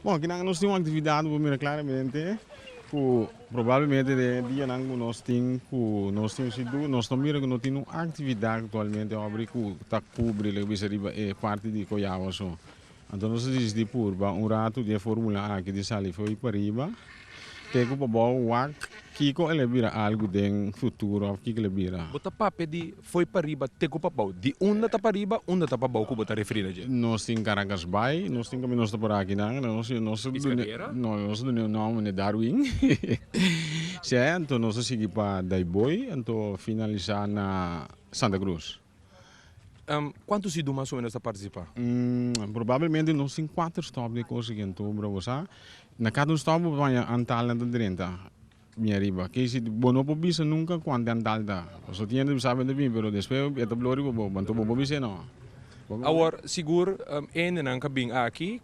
Bon, kinan nos tin un aktividat bo mira klaramente ku probablemente den e dianan ku nos tin ku nos tin si du nos ta mira ku no tin un aktividat aktualmente obri ku ta kubri loke bisa riba e parti di Coyagua so. Anto nos a disidí purba un ratu di e formula aki di sali fo'i pa riba te ku pa bou wak kiko el a bira algu den futuro òf kiko el a bira. Bo ta papia di Foi pa riba te ku pa bou. Di unda ta pa riba, unda ta pa bou ku bo ta referí na dje? Nos tin Caracas Bay, nos tin kaminda nos ta por aki nan, nos a nos a dune, no, nos a dune un nom, meneer Darwin, sey, anto nos a sigui pa Dayboi, anto finalisá na Santa Cruz. Kuantu idu mas o menos ta partisipá? Probablemente nos tin kuater stop di kos aki, anto bo ta wosá, na kada un stop bo ta baña antalnan ta drenta. Mira riba. Ke si bo no por bisa nunka kuantu di antal ta. Paso tin hende sa bende bin pero despues e ta blori pa bo anto bo por bisa no. Awor sigur hendenan ka bin aki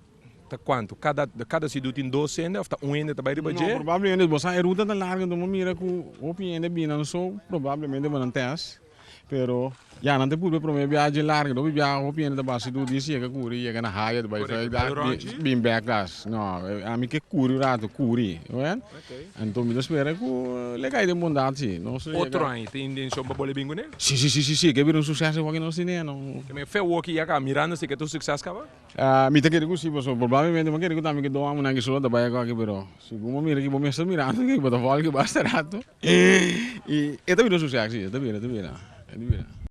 ta kuantu kada de kada sidu tin dos hende of ta un hende ta bai riba dje? No probablemente bo sa e ruta ta largu enton bo mira ku hopi hende a bina so probablemente bo nan test. Pero ya nan ta purbe prome biaji larga dor biaha hopi hende ta basi tur di siega kuri yega na haya ta bai vrijdag bin bek kas no ami ke kuri un ratu kuri wea anto mi ta spera ku le kai den bondat si nos ta yega otro aña tin intencion pa bole bin kune? Si si si si si ke bira un succes e woki nos tin e aña no. Te mea fe woki yaka mirando si ke ta un succes kaba? Mi ta kere ku si, pasobra probablemente bo a kere ku tambe ki dos amunan aki solo ta bai akò aki, pero segun bo mira ki bo mes ta mirando aki bo ta volki basta rato i e ta bira su seksi, e ta bira, e ta bira.